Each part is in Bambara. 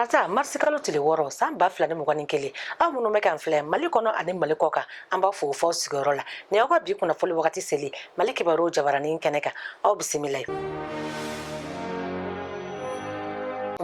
tarata marisikalo tile wɔɔrɔ san ba fila ni mugan ni kelen aw minnu bɛ k'an filɛ mali kɔnɔ ani mali kɔ kan an b'aw fo f'aw sigiyɔrɔ la ni aw ka bi kunnafoli wagati seli mali kibaruw jabaranin kɛnɛ kan aw bisimila ye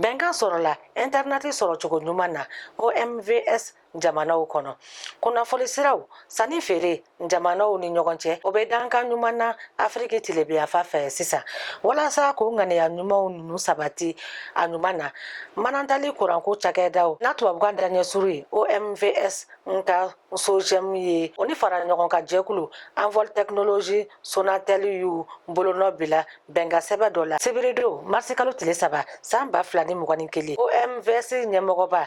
bɛnkan sɔrɔla ɛntɛrinɛti sɔrɔ cogo ɲuman na omvs jamanaw kɔnɔ kunnafoli siraw sanni feere jamanaw ni ɲɔgɔn cɛ o bɛ dankan ɲuman na afiriki tilebinyanfan fɛ sisan walasa k'o ŋaniya ɲumanw ninnu sabati a ɲuman na manantali kuranko cakɛdaw n'a tubabukan daɲɛsuru ye omvs nka sojɛmu ye o ni faraɲɔgɔnkan jɛkulu anvɔl tɛkinolozi sonatɛli y'u bolonɔ bila bɛnkan sɛbɛn dɔ la sibiridon marisikalo tile saba san ba fila ni mugan ni kelen omvs ɲɛmɔgɔba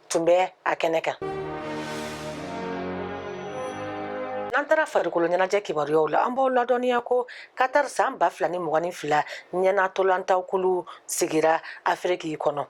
tun bɛ a kɛnɛ kan n'an taara farikolo ɲɛnajɛ kibaruyaw la an b'aw ladɔnniya ko katar san ba fila ni mugan ni fila ɲɛna ntolatan kulu sigira afiriki kɔnɔ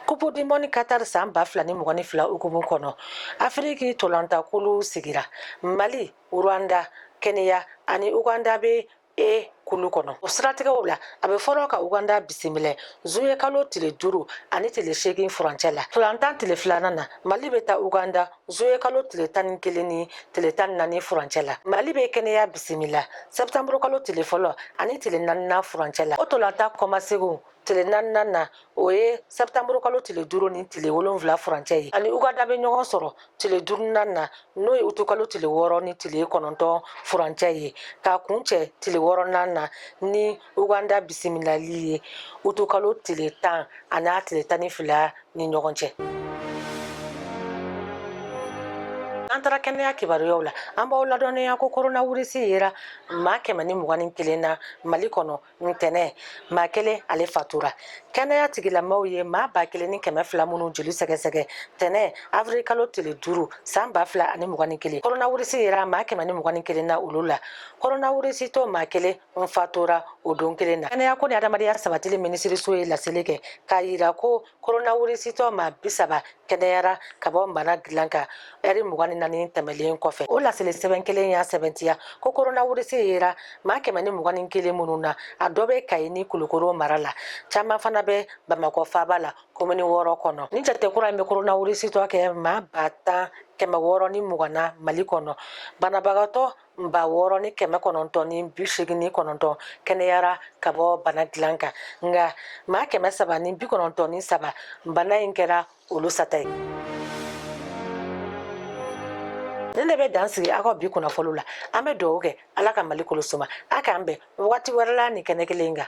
kupu dimɔni katar san ba fila ni mugan ni fila hukumu kɔnɔ afiriki ntolatan kulu sigira mali rwanda kenya ani uganda bɛ e kulu kɔnɔ o siratigɛw la a bɛ fɔlɔ ka uganda bisimila zuwɛn kalo tile duuru ani tile seegin furancɛ la ntolatan tile filanan na mali bɛ taa uganda zuwɛn kalo tile tan ni kelen ni tile tan ni naani furancɛ la mali bɛ kenya bisimila sɛtanburukalo tile fɔlɔ ani tile naaninan furancɛ la o ntolatan kɔmasegin tile naaninan na o ye sɛtanburu kalo tile duuru ni tile wolonwula furancɛ ye ani uganda bɛ ɲɔgɔn sɔrɔ tile duurunan na n'o ye utu kalo tile wɔɔrɔ ni tile kɔnɔntɔn furancɛ ye ka kuncɛ tile wɔɔrɔnan na ni uganda bisimilali ye utu kalo tile tan ani a tile tan ni fila ni ɲɔgɔn cɛ an taara kɛnɛya kibaruyaw la an b'aw ladɔnniya ko koronawirisi yera maa kɛmɛ ni mugan ni kelen na mali kɔnɔ ntɛnɛn maa kelen ale fatura kɛnɛya tigilamɔgɔw ye maa ba kelen ni kɛmɛ fila minnu joli sɛgɛsɛgɛ ntɛnɛn avril kalo tile duuru san ba fila ani mugan ni kelen koronawirisi yera maa kɛmɛ ni mugan ni kelen na olu la koronawirisitɔ maa kelen n fatura o don kelen na kɛnɛya ko ni adamadenya sabatili minisiriso ye laseli kɛ k'a yira ko koronawirisitɔ maa bi saba kɛnɛyara ka bɔ bana dilan kan ɛri mugan ni naani tɛmɛnlen kɔfɛ o laseli sɛbɛn kelen y'a sɛmɛntiya ko koronawirisi yera maa kɛmɛ ni mugan ni kelen minnu na a dɔ bɛ kayi ni kulukoro mara la caman fana bɛ bamakɔ faaba la komini wɔɔrɔ kɔnɔ nin jate kura in bɛ koronawirisitɔ kɛ maa ba tan kɛmɛ wɔɔrɔ ni mugan na mali kɔnɔ banabagatɔ ba wɔɔrɔ ni kɛmɛ kɔnɔntɔn ni bi segin ni kɔnɔntɔn kɛnɛyara ka bɔ bana dilan kan nka maa kɛmɛ saba ni bi kɔnɔntɔn ni saba bana in kɛra olu sata ye nin de bɛ dan sigi aw ka bi kunnafoni la an bɛ dugawu kɛ ala ka mali kolo suma a k'an bɛn waati wɛrɛ la nin kɛnɛ kelen kan